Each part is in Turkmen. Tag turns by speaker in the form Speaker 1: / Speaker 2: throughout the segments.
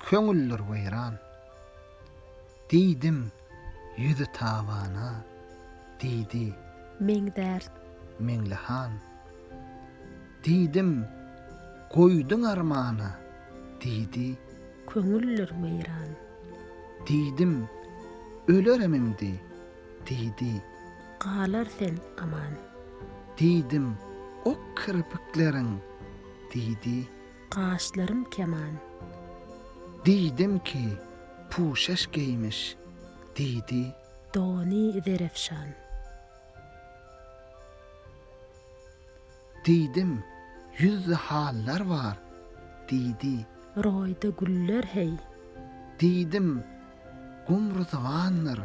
Speaker 1: Köňüldir weýran. Diýdim, ýüzi tabana, diýdi. Meň
Speaker 2: dert. Meňli
Speaker 1: han. Diýdim, goýduň armana, diýdi. Köňüldir
Speaker 2: weýran. Diýdim,
Speaker 1: ölerim indi, diýdi. Galar
Speaker 2: sen aman. Diýdim,
Speaker 1: ok kirpikleriň. diýdi. Gaşlarym
Speaker 2: keman.
Speaker 1: Diýdim ki, puşaş geýmiş, diýdi. Dony
Speaker 2: zerefşan.
Speaker 1: Diýdim, ýüzde hallar bar, diýdi. Roýda
Speaker 2: güller heý. Diýdim.
Speaker 1: Gum ryswandyr,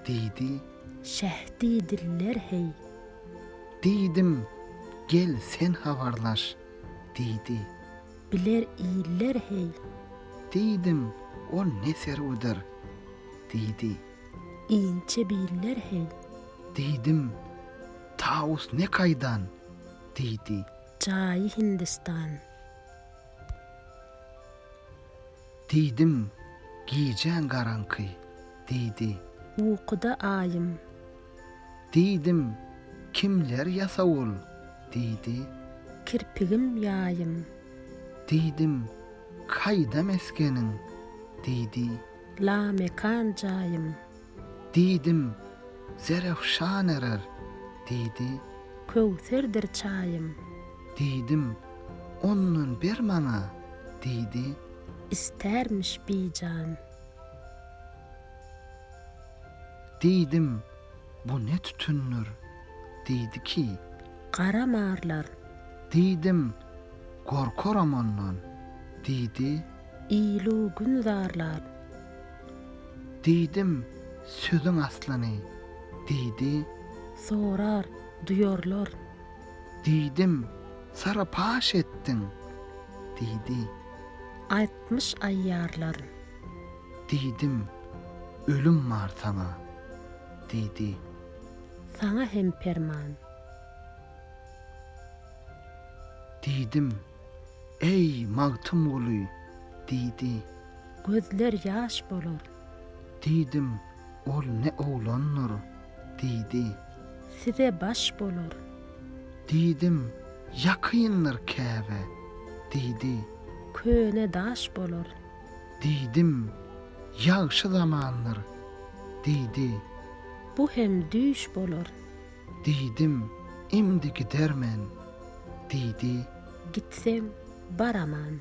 Speaker 1: diýdi. Şeh
Speaker 2: diýdiler, heý. Diýdim,
Speaker 1: gel sen habarlaş, diýdi. Biler
Speaker 2: iller, heý. Diýdim,
Speaker 1: ol ne serwidir, diýdi.
Speaker 2: Inçe biller, heý. Diýdim,
Speaker 1: Tawus ne kaýdan, diýdi. Jaýy
Speaker 2: Hindistan.
Speaker 1: Diýdim, Gijäň garaňky, diýdi. Ukuda
Speaker 2: aýym.
Speaker 1: Diýdim, Kimler ýasawul, diýdi. Kirpigim
Speaker 2: ýaýym. Diýdim,
Speaker 1: Kaýda mesgeniň, diýdi.
Speaker 2: Lamekan jaýym. Diýdim,
Speaker 1: Zerafşan erer, diýdi. Köwserdir
Speaker 2: çaýym. Diýdim,
Speaker 1: Ondan ber maňa, diýdi. Istermiş
Speaker 2: bijan.
Speaker 1: Diýdim, Bu ne tütündir? Diýdi ki. Gara marlar.
Speaker 2: Diýdim,
Speaker 1: Gorkaram ondan, diýdi. Il-u
Speaker 2: gün zarlar.
Speaker 1: Diýdim, Sözüň aslyny, diýdi. Sorar,
Speaker 2: duýarlar.
Speaker 1: Diýdim, Sara paş etdiň, diýdi.
Speaker 2: Aýtmyş aýýarlar.
Speaker 1: Diýdim, Ölüm bar saňa, diýdi.
Speaker 2: Saňa hem perman.
Speaker 1: Diýdim, Eý, Magtymguly, diýdi. Gözler
Speaker 2: ýaş bolar. Diýdim,
Speaker 1: Ol ne oglandyr? diýdi. Size
Speaker 2: baş bolar. Diýdim,
Speaker 1: Ýakyndyr käbä? diýdi. Köne
Speaker 2: daş bolar. Diýdim,
Speaker 1: Ýagşy zamandyr? diýdi. Bu
Speaker 2: hem düýş bolar. Diýdim,
Speaker 1: Indi gidermen. Diýdi.
Speaker 2: Gitseň,
Speaker 1: baraman.